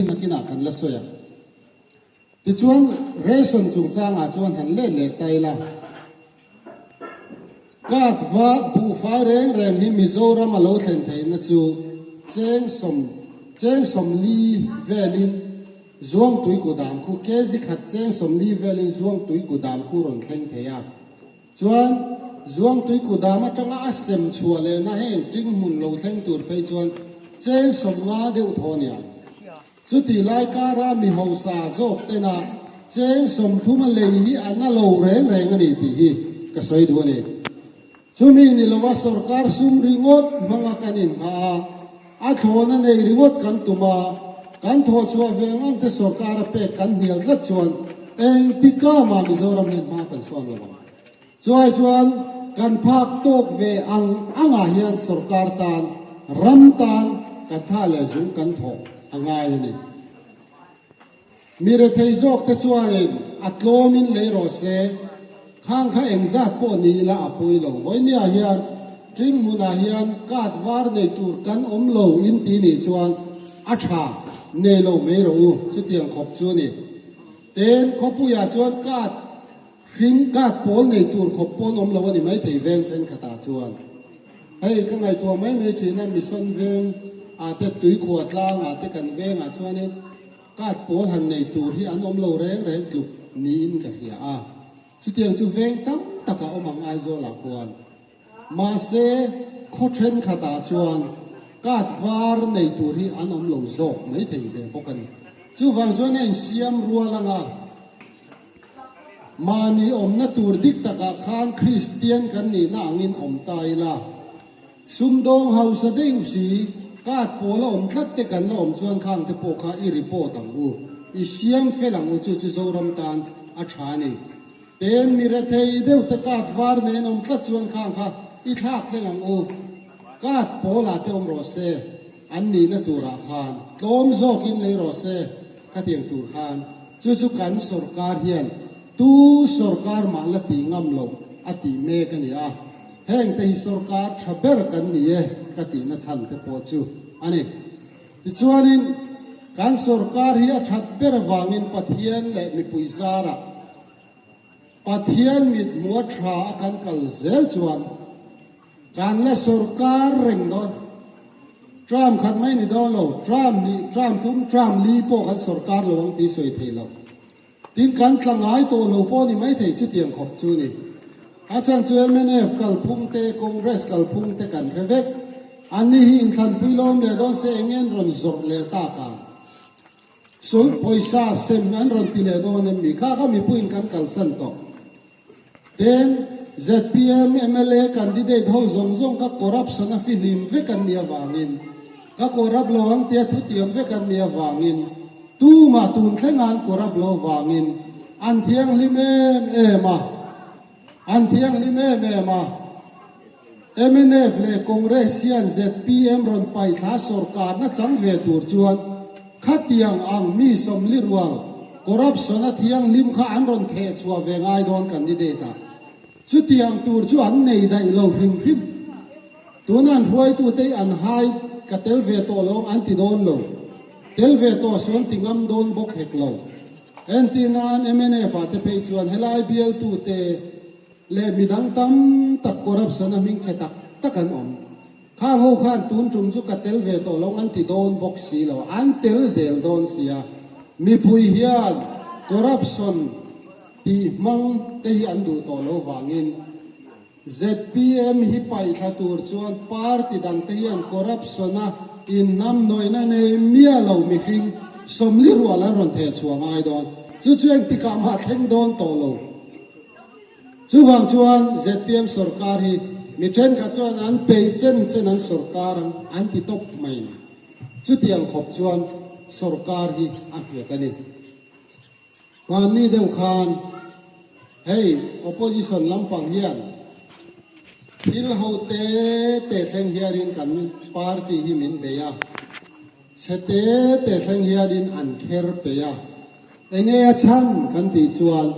Hei nakinah kan la sawi a. Tichuan, ration chungchangah chuan han let leh ta ila. Card var buhfai reng reng hi Mizoram a lo thlen theihna chu cheng sawm, cheng sawm li velin zuangtui kudam khu, kg khat cheng sawm li velin zuangtui kudam khu rawn thleng thei a. Chuan Zuangtui kutdam atanga a sem chhuah lehna heng ṭing hmun lo thleng tur phei chuan cheng sawm nga deuh thaw a ni a. Chutih lai kara mi hausa zawk tena cheng sawm thuma lei hi a na lo reng reng a ni tih hi ka sawi duh a ni. Chumi ni lova sawrkar sum ringawt hmanga kan inngah a. A thlawn a nei ringawt kan tum a, kan thawhchhuah ve ngang te sorkar a pek kan hnial tlat chuan engti kama Mizoram hian hma kan sawn lo ang. Chuai chuan kan phak tawk ve ang angah hian sorkar tan, ram tan kan thah leh zung kan thawh a ngai a ni. Mi rethei zawk te chuanin a tlawm in lei rawh se, khang kha eng zat pawh ni ila a pawi lo. Vawinia hian Tring hmun ah hian card var nei tur kan awm lo in ti nih chuan a tha nei lo mai rawh u, chutiang khawp chu ni. Ten khawpui ah chuan card hring, card pawl nei tur khawp pawn awm lo a ni mai thei veng thenkhat ah chuan. Hei ka ngaihtuah mai mai thin a, mission veng ah te, tuikhua tlang ah te kan veng ah chuan in, Card pawl han nei tur hi an awm lo reng reng tluk niin ka hria a. Chutiang chu veng tam tak a awm ang Aizawl ah khuan. Mahse, khaw thenkhat ah chuan card var nei tur hi an awm lo zawk mai thei ve bawk a ni. Chuvang chuan a insiam rual ang a. Mahni awmna tur dik tak ah khan Kristian kan nihna angin awm ta ila. Sumdawng hausa daih u si, card pawl a awm tlat te kan la awm chuan khang te pawh kha i report ang u, i siam fel ang u chu chu Zoram tan a tha a ni. Pen mi rethei deuh te card var nen awm tlat chuan khang kha i thlak thleng ang u, card pawl ah te awm rawh se, an nihna tur ah khan tlawm zawk in lei rawh se, ka tiang tur khan chu chu kan sorkar hian tu sorkar mah la ti ngam lo a tih mek a ni a. Heng te hi sorkar tha ber kan ni e ka tihna chhan te pawh chu a ni. Tichuanin, kan sorkar hi a that ber avangin Pathian leh mipui zara Pathian mithmuh tha a kan kal zel chuan kan la sorkar reng dawn. Trump khat mai ni dawn lo, Trump hnih, Trump tum, Trump li pawh kan sorkar lo ang tih sawi thei lo. Tin kan tla ngai tawh lo pawh ni mai thei chutiang khawp chu ni. A chhan chu mnf kalphung te, Congress kalphung te kan hre vek. An ni hi inthlanpui lawm leh dawn se enge an rawn zawrh leh tak ang? Sawi pawisa sem an rawn ti leh dawn em? Mi kha kha mipuiin kan kalsan tawh. Heng zpm mla candidate ho zawng zawng kha corruption a fihnim vek an nih avangin, kha corrupt lo ang tia thutiam vek an nih avangin, tumah tun thlenga an corrupt lo vangin an thianghlim em em a, an thianghlim em em a. Mnf leh Congress hian zpm rawn paih thla sorkarna chang ve tur chuan khatiang ang mi sawmli rual, corruption a thianghlim kha an rawn theh chhuah ve ngai dawn candidate ah. Chutiang tur chu an nei daih lo hrim hrim. Tuna an hruaitute an hai ka tel ve tawh lawng an ti dawn lo. Tel ve tawh sawn ti ngam dawn bawk hek lo. Entih nan mnf-a te phei chuan helai bialtute leh midang tam tak corruption a hming che tak tak an awm. Khang ho khan tun tum chu ka tel ve tawh lo an ti dawn bawk si lo, an tel zel dawn sia. Mipui hian corruption tih hmang te hi an duh tawh lo vangin zpm hi paih thla tur chuan party dang te hian corruption a inhnam nawihna nei miah lo mihring sawmli rual an rawn theh chhuah ngai dawn. Chu chu engtikah mah thleng dawn tawh lo. Chuvang chuan zpm sorkar hi mi thenkhat chuan an pei chen chen an sorkar ang an ti tawp mai. Chuti ang khawp chuan sorkar hi a hmet a ni. Hmanni deuh khan hei opposition lampang hian thil ho te te thleng hiarin kan party hi min bei a. Chhe te te thleng hianin an kher peih a, Enge a chhan? kan tih chuan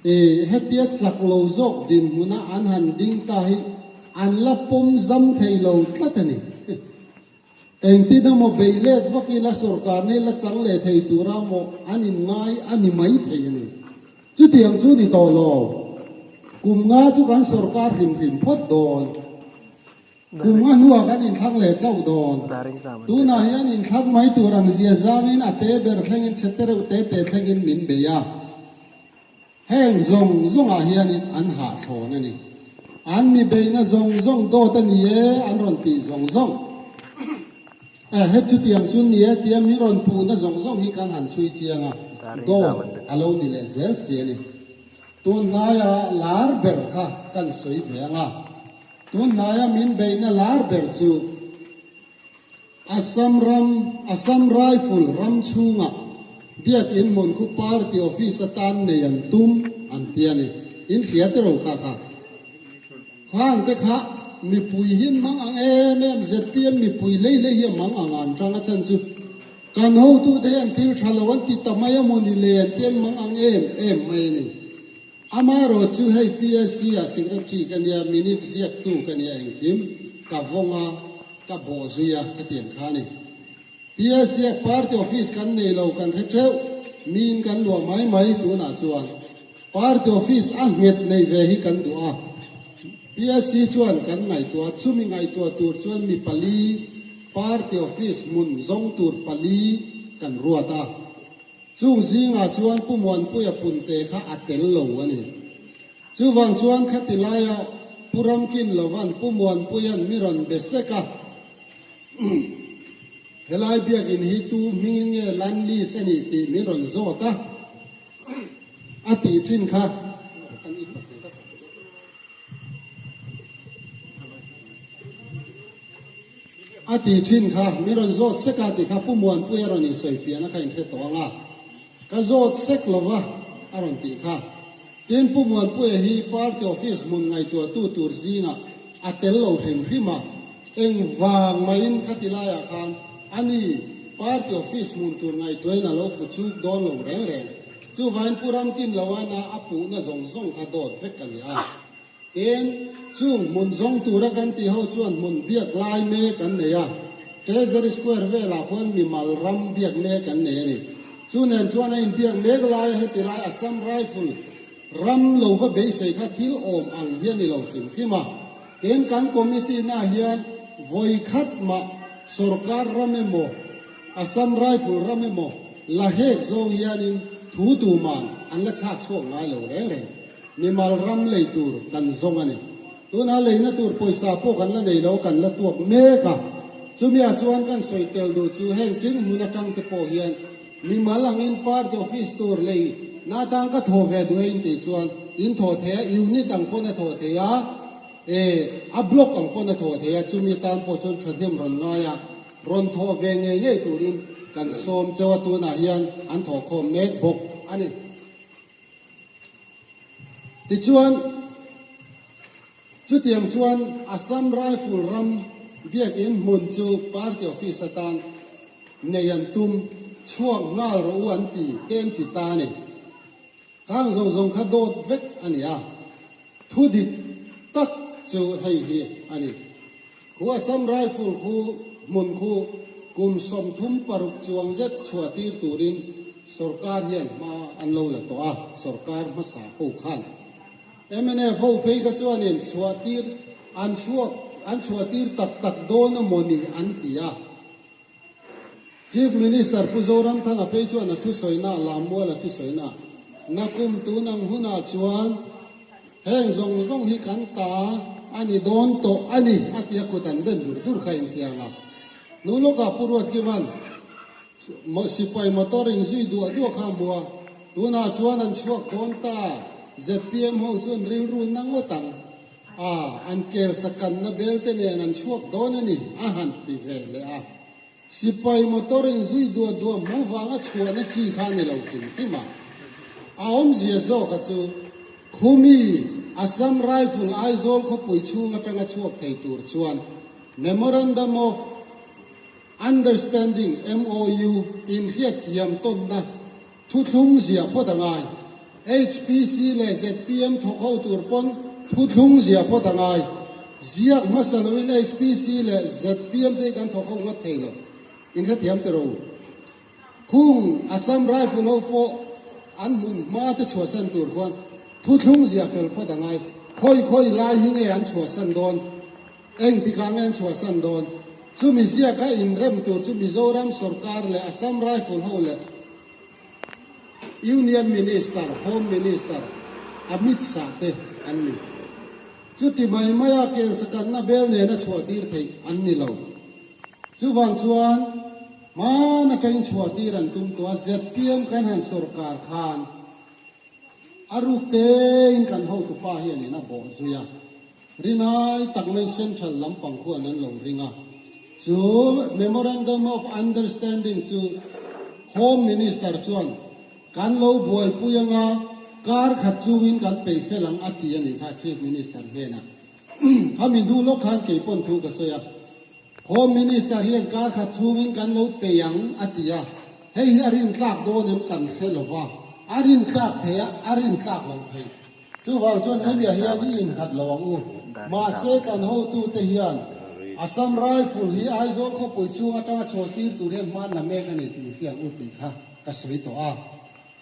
E, hetia chak lo zawk dinhmuna an han ding ta hi an la pawm zam thei lo tlat a ni. Engtin emaw bei let vak ila sorkarna hi la chang leh thei tura maw an inngai a ni mai thei a ni. Chutiang chu ni tawh lo, kum nga chu kan sorkar hrim hrim phawt dawn. Kum a hnuak an inthlak leh chauh dawn. Tunah hian inthlak mai tur ang zia zangin a te ber thlengin chhe te reuh te te thlengin min bei a, heng zawng zawngah hianin an hahthlawn a ni. An mi beihna zawng zawng dawt a ni e an rawn tih zawng zawng. Eh, he chutiang chu ni e tia min rawn puhna zawng zawng hi kan han chhui chiang a, dawt a lo ni leh zel si a ni. Tunhnaia lar ber kha kan sawi ve ang a. Tunhnaia min beihna lar ber chu Assam ram Assam Rifle ram chhunga Biakin Hmunkhup Party Office atan nei an tum an ti a ni. In hria te ro kha kha. Khang te kha mipui hi an mang ang em em, zpm mipui lei lei hi a mang ang a an tang a chan chu. Kan hotute hi an thil tha lo an ti ta mai a maw ni le an ti an mang ang em em mai a ni. Amaherawh chu hei PSC a secretary ka nia, minute ziaktu ka nia engkim, ka vawng a, ka bawh zui a ka ti ang kha a ni. PSC a party office kan nei lo kan hre theuh, min kan luah mai mai tunah chuan party office a nghet nei ve hi kan duh a, PSC chuan kan ngaihtuah, chumi ngaihtuah tur chuan mi pali party office hmun zawng tur pali kan ruat a. Chung zingah chuan Pu Muanpuia punte kha a tel lo a ni. Chuvang chuan khati laia Pu Ramkin Lovan Pu Muanpuia'n mi rawn be sek a. Helai biakin hi tu hmingin nge Lanlis a nih tih min rawn zawt a, a tih thin kha kan inmak ve ta pawh ka zet lo. A ti thin kha, min rawn zawt sek a ti kha Pu Muanpui a rawn insawi fian a kha inhre tawh ang a, ka zawt sek lo va a rawn tih kha. Tin, Pu Muanpuia hi party office hmun ngaihtuahtu tur zingah a tel lo hrim hrim a, engvang mahin kha ti laiah khan a ni party office hmun tur ngaihtuahin a lo phu chuk dawn lo reng reng. Chuvain Pu Ramkinloana a puhna zawng zawng kha dawt vek a ni a. Eng, chung hmun zawng tura kan tih ho chuan hmun biak lai me kan nei a, Treasury Square velah khuan mimal ram biak me kan nei a ni. Chu nen chuan a inbiak mek laia heti lai Assam Rifle ram lo va beisei kha thil awm ang hi a ni lo hrim hrim a. Tin, kan committee na hian vawi khat mah sorkar ram emaw, Assam Rifle ram emaw la hek zawng hianin thu tuman an la chhak chhuak ngai lo reng reng. Mimal ram lei tur kan zawng a ni. Tunah lei na tur pawisa pawh kan la nei lo, kan la tuak mek a. Chumia chuan kan sawi tel duh chu heng ṭing hmun aṭang te pawh hian mimal angin party office tur lei na tan ka thaw ve duh e in tih chuan in thaw thei a, unit ang pawn a thaw thei a, eh a block ang pawn a thaw thei a, chumi tan pawh chuan ṭhahnem rawn ngai a, rawn thaw ve ngei ngei turin kan sawm chauh a, tunah hian an thaw khawm mek bawk a ni. Tichuan, chutiang chuan Assam Rifle ram biakin hmun chu party office atan nei an tum, chhuak nghal rawh u an ti te an ti ta a ni. Khang zawng zawng kha dawt vek a ni a, thudik tak chu hei hi a ni. Khu Assam Rifle khu hmun khu kum sawmthum paruk chuang zet chhuahtir turin sorkar hian hma an lo la tawh a, sorkar hmasa ho khan mnf ho phei kha chuanin chhuahtir an chhuak an chhuahtir tak tak dawn a maw ni an ti a. Chief Minister Pu Zoramthanga phei chuan a thusawihnaa lam mual a thusawihnaa na kum tun ang hunah chuan heng zawng zawng hi kan ta a ni dawn tawh a ni a tia kut an ben dur dur kha inthiam a. Hnu lawkah Pu Ruatkiman sipai motor in zui duah duah kha a hmu a, tunah chuan an chhuak dawn ta a, zpm ho chuan rilru na ngawt ang. a, an kersa kanna belte nen an chhuak dawn a ni, a han ti ve hle a. Sipai motor in zui duah duah hmuh vanga chhuahna chi kha ni lo hlim hlim a. A awmzia zawkah chu Khumi, Assam Rifle, Aizawl khawpui chhung atanga chhuak thei tur chuan Memorandum of Understanding, MOU, inhriat thiam tawnna, Thuthlung ziah phawt a ngai. HPC leh zpm thawk ho tur pawn thuthlung ziah phawt a ngai. Ziak hmasa loin HPC leh zpm te hi kan thawk ho ngawt thei lo. In hrethiam teh rawh u. Khung Assam Rifle ho pawh an hmun hma te chhuahsan tur khuan thuthlung ziah fel phawt a ngai. Khawi khawi lai hi nge an chhuahsan dawn? Engtik ah angin chhuahsan dawn? Chumi ziaka inrem tur chu Mizoram sorkar leh Assam Rifle ho leh Union Minister, Home Minister, Amit Shah te an ni. Chuti mai maia kensakanna bel nena chhuahtir theih an ni lo. Chuvang chuan hman atangin chhuahtir an tum tawh a, zpm kan han sorkar khan a ruk tein kan hotupa hianin a bawh zui a. Rinai tak mai Central lampang huan an lo ring a. Chu Memorandum of Understanding chu Home Minister chuan kan lo buaipui ang a, kar khat chungin kan pe fel ang a ti a nih kha Chief Minister hnenah. Khami hnu lawk khan kei pawn thu ka sawi a, Home Minister hian kar khat chungin kan lo pe ang a ti a, hei hi a rin tlak dawn em kan hre lova, a rin tlak theia a rin tlak lo thei. Chuvang chuan hemi-ah hian i innghat lo ang u. Mahse, kan hotute hian Assam Rifle hi Aizawl khawpui chhung atanga chhaw tir tur hian hmanna mek a ni tih infiam u tih kha ka sawi tawh a.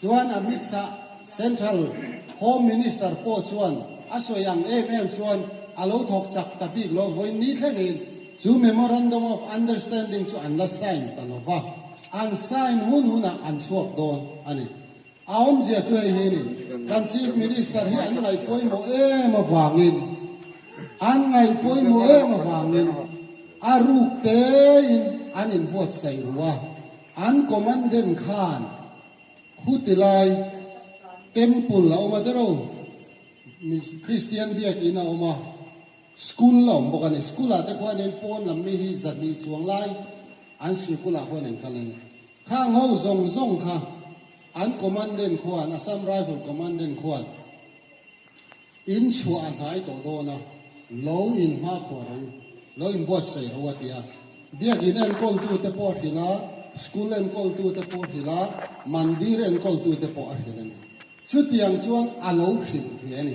Chuan Amit Shah, Central Home Minister pawh chuan a sawi ang em em chuan a lo thawk chak ta bik lo vawiin ni thlengin chu Memorandum of Understanding chu an la sign ta lova. An sign hun hunah an chhuak dawn a ni. A awmzia chu hei hi a ni, kan Chief Minister hi an ngaih pawimawh em avangin, an ngaih pawimawh em avangin a ruk tein an inbuatsaih ru a, an commandant khan khutilai temple a awm a deuh reuh, Christian biak in a awm a, school a awm bawk a ni, school ah te khuanin pawn lam mi hi zahnih chuang lai an sikul ah khuan an kal a ni. Thla ngo zawng zawng kha an Commandant khuan, Assam Rifle Commandant khuan in chhuah a hnai tawh dawn a, lo in hma khua ro, lo in buat saih ro a ti a. Biakin enkawl tu te pawh a hrilh a, School enkawl tu te pawh a hrilh a, Mandir enkawl tu te pawh a hrilh a ni. Chutiang chuan a lo hrilh hle a ni.